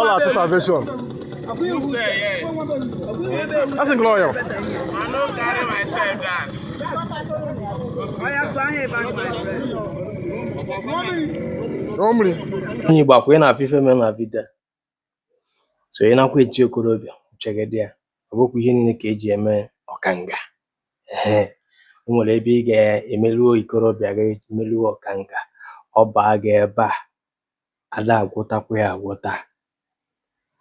ọla atụ salvation asị gị lọya onye igbo ọ kwa ị na-afụ ife me na vidio so ị nakwa eti okorobịa uche gị dị ya ọ bụkwa ihe niile ka eji eme ọkanga ee o nwere ebe ị ga-emeruo ikorobịa gị meruo ọkanga ọ baa gị ebe a ada agwọtakwa ya agwọta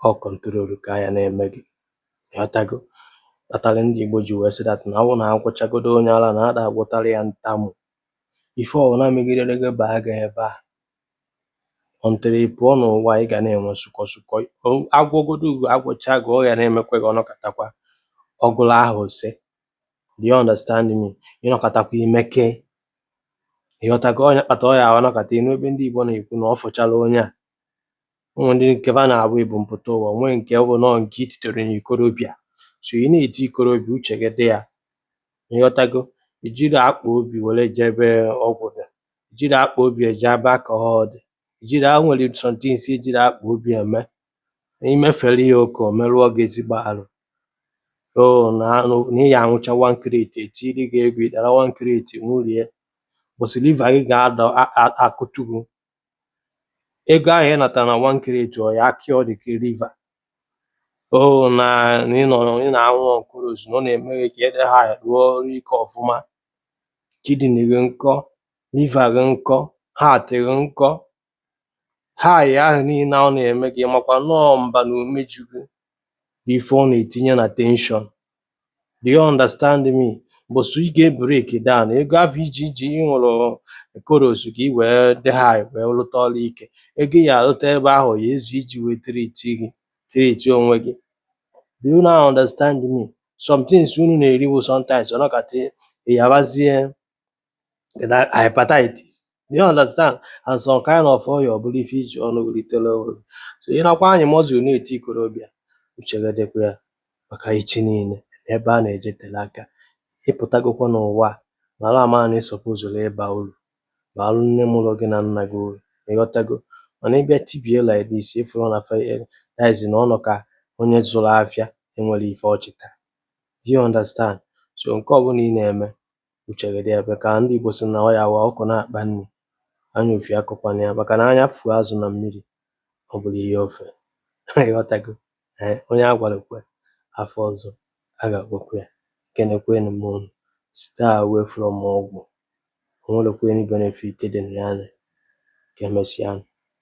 ọ control ka ya na-eme gị ịghọtago kpatara ndị Igbo ji wee sị that na ọ bụrụ na agwọchagodo onye ara na ada agwọtara ya ntamu ife ọbụla megidere gị baa gị ebe a until ị pụọ n'ụwa ị ga na-enwe sụkọ sụkọ agwọgodu gị agwọcha gị ọ ya na-emekwa gị ọ nọkatakwa ọgụrụ ahụ ose do you understand me ị nọkatakwa imeke ịghọtago ọ nya kpata ọ ya anọkata ị nụ ebe ndị Igbo na-ekwu na ọ fụchara onye a ụmụ ndị nke ba na-abụ ebumpụta ụwa nwee nke ọ bụ na ọ nke ititere na ikorobịa so ị na-eti ikorobịa uche gị dị ya ịghọtago ijiri akpa obi were je ebe ọgwụ dị ijiri akpa obi eje ebe alcohol dị ijiri a nwere some things ejiri akpa obi eme na imefere ya oke o merụọ gị ezigbo arụ oo na na ị ya aṅụcha one crate etiri gị ego ịdara one crate ṅụrie boss liver gị ga-ada a- a- akụtu gị ego ahụ ị natara na one crate ọ ya acure dị ka liver oo na na ị nọ ị na-aṅụ on colos na ọ na-eme gị ka ị dị high rụọ ọrụ ike ọfụma kidney gị nkọ liver gị nkọ heart gị nkọ High ahụ niile ọ na-eme gị makwa na ọ mba na umeju gị bụ ife ọ na-etinye na tension do you understand me boss ị ga-ebreak down ego ahụ iji iji ị ṅụrụ colos ka ị wee dị high wee lụta ọrụ ike ego ị ya alụta ebe ahụ ya ezu iji wee treat gị treat onwe gị do you now understand me some things unu na-eriwu sometimes ọ nọkata ị yabazie hepatitis do you understand and some kind of ọya ọ bụrụ ife iji ọnụ wee litere ọrụ so ị nakwa anyị muscle na-eti ikorobịa uche gị dịkwa ya maka echi niile ebe a na-eje tele aka ịpụtagokwa n'ụwa mara ama na ị supposụrụ ịba uru baalụ nne mụrụ gị na nna gị uru ịghọtago mana ịbịa tibie like this ịfụrụ na fediz na ọnọ ka onye zụrụ afịa enwerọ ife ọ chịta do you understand so nke ọbụla ị na-eme uche gị dị ebe ka ndị Igbo sị na ọ ya wa ọkụkọ na-akpa nri anya ufie akọkwana ya maka na anya fuo azụ na mmiri ọ bụrụ ihe ofe ịghọtago ee onye a gwara kwe afọ ọzọ a ga-agwakwa ya ekenekwenụ m unu stay away from ọgwụ o nwerọkwa any benefit dị na ya ka emesịa